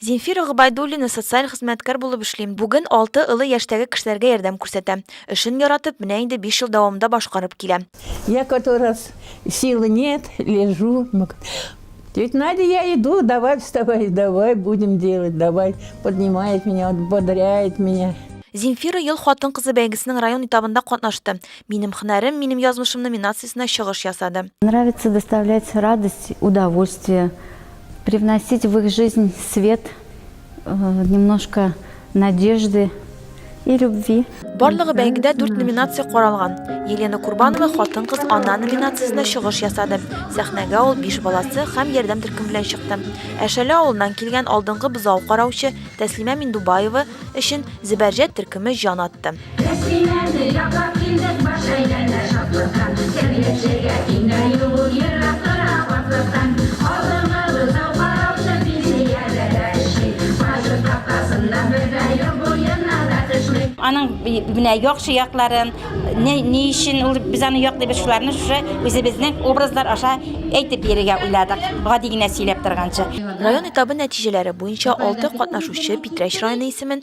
Зинфира Гобайдуллина социаль хезмәткәр булып эшлим. Бүген алты олы яшьтәге кешеләргә ярдәм күрсәтәм. Эшен яратып, менә инде биш ел дәвамында башкарып килә. Я который раз силы нет, лежу, тетя Надя, я иду, давай вставай, давай будем делать, давай, поднимает меня, вот бодряет меня. Зинфира ел хатын-кызы бәйгесенең район этабында катнашты. Минем хөнәрем, минем язмышым номинациясенә чыгыш ясады. Нравится доставлять радость, удовольствие. Привносить в их жизнь свет, немножко надежды и любви. Барлыгы бәйгедә дүрт номинация каралган. Елена Курбанова хатын-кыз ана номинациясендә чыгыш ясады. Сәхнәгә ул биш баласы һәм ярдәм төркем белән чыкты. Әшәле авылыннан килгән алдынгы бозау караучы Тәслимә Миндубаева өчен Зебәрҗәт төркеме җан атты. Рәсиләрне яклап килдек бар шәйләрдә шатлыктан Сәбиячегә тиңе юк ул ерак тора картлыктан Алдынгы бозау караучы пенсиядә дә эшли Бажы капкасында бер дә юк буена да төшми. Аның менә яхшы якларын, ни ни өчен ул без аны яклыйбыз шуларны шушы үзебезнең образлар аша әйтеп бирергә уйладык, гади генә сөйләп торганчы. Район этабы нәтиҗәләре буенча алты катнашучы Питрәч районы исемен,